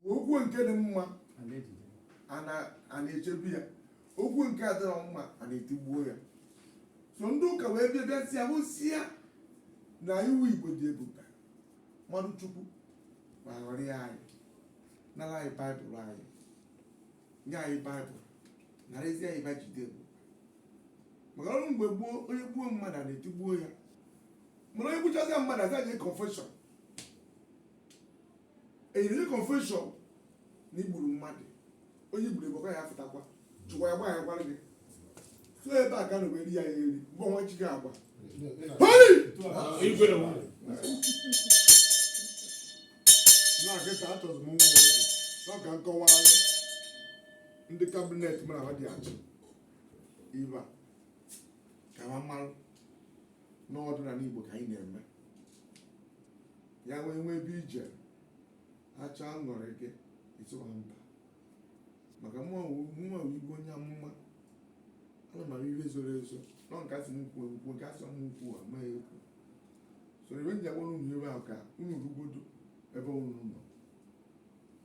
ma okwu nke dị mma a na-echegbu ya okwu nke adịrọ mma a na-etigbuo ya so ndị ụka wee bịa bịa si ahụsi ya na iwu igbo dị ebube mmadụ chukwu ma ghọrọ ya anyị nara anyị baịbụl anyị nye anyị baịbụl narazi anyị ebe e ji dị ebube maka ọrụ mgbe gboo onye gbuo mmadụ a na-etigbuo ya mana onye gbuchazi mmadụ aza nye confession i nyere confession na i gburu mmadụ onye i gburu egbekwa ya fụtakwa chụkwa ya gbaa ya gwara gị so ebe a ka na weri ya ya eri mgbe ọnwa chi gị agba Holy! Igwe nwa. na nkịta achọzụ m nwa nwoke na ka m kọwaa ndị kabinet mụ na ha dị achị ebe a ka ha mara n'ọdịnala Igbo ka anyị na-eme ya nwee nwe ebe ije acha aṅụrị gị ịtụwa mba maka mụnwa wụ igwe onye amụma ama m ihe zoro ezo nọ nke a sị m kwuo ekwuo nke a sị m ekwuna ama m ekwu so ebe m ji agwara unu ebe ahụ ka unu rugodo ebe unu nọ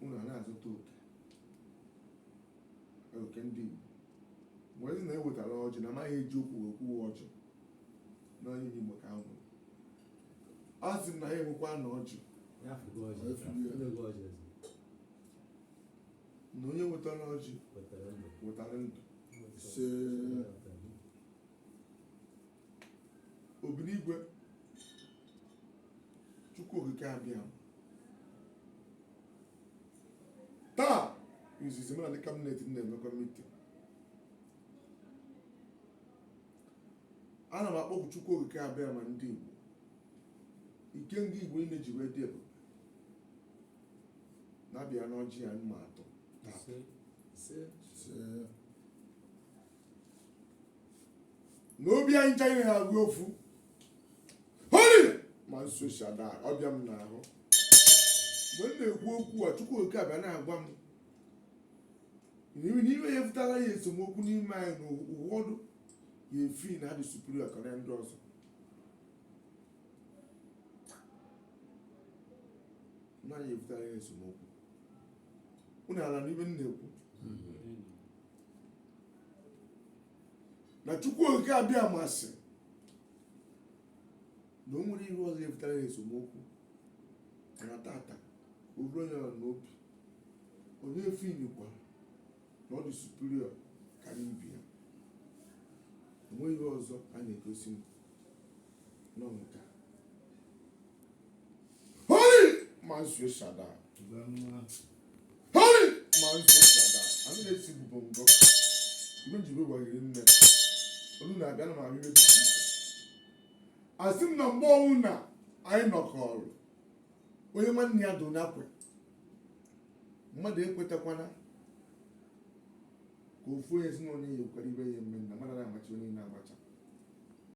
unu ana-azụta oke oke ndị Igbo mgbe ezi na-ewetara ọjị na amaghị e ji ekwu okwu ọjị na onye Igbo ka nwụrụ ọ sị na anyị enwekwana ọjị na onye wetara ọjị wetara ndụ obinigwe chukwu okike abịa taa izizi mụ na ndị kabinet na-emekọ mitin ana m akpọku Chukwu Okike Abịama ndị Igbo ike ndị Igbo niile ji wee dị ebube na-abịa n'ọjị a m na-ata taata na obi anyị ncha ga-abụ ofu holi mmụọ nsọ si ada ọbịa m n'ahụ mgbe m na-ekwu okwu a Chukwu Okike abịa na-agwa m na ihe ya ebutala anyị esemokwu n'ime anyị na ụfọdụ ya efeel na ha dị superior karịa ndị ọzọ na ya ebutala anyị esemokwu unu ana-anụ ihe m na-ekwu na chukwu okike abịama sị na o nwere ihe ọzọ ebutala anyị esemokwu mana taata o ruo ya n'obi onye feelikwa na ọ dị superior karịa ibe ya enweghị ihe ọzọ a na-egosi m nọ nke a holy mazio shada holy mazio shada a na-esi bụbo ngọ ibe njibe gwaghere nne olu na-abịa na m abịa ibe dị iche iche asị m na ma ọ wụ na anyị nọkọrọ onye nwanne ya do n'akwa mmadụ ekwetakwana ka ofu onye ezinụlọ ya ekwere ibe ya eme na mmadụ na-amachi onye na-agbacha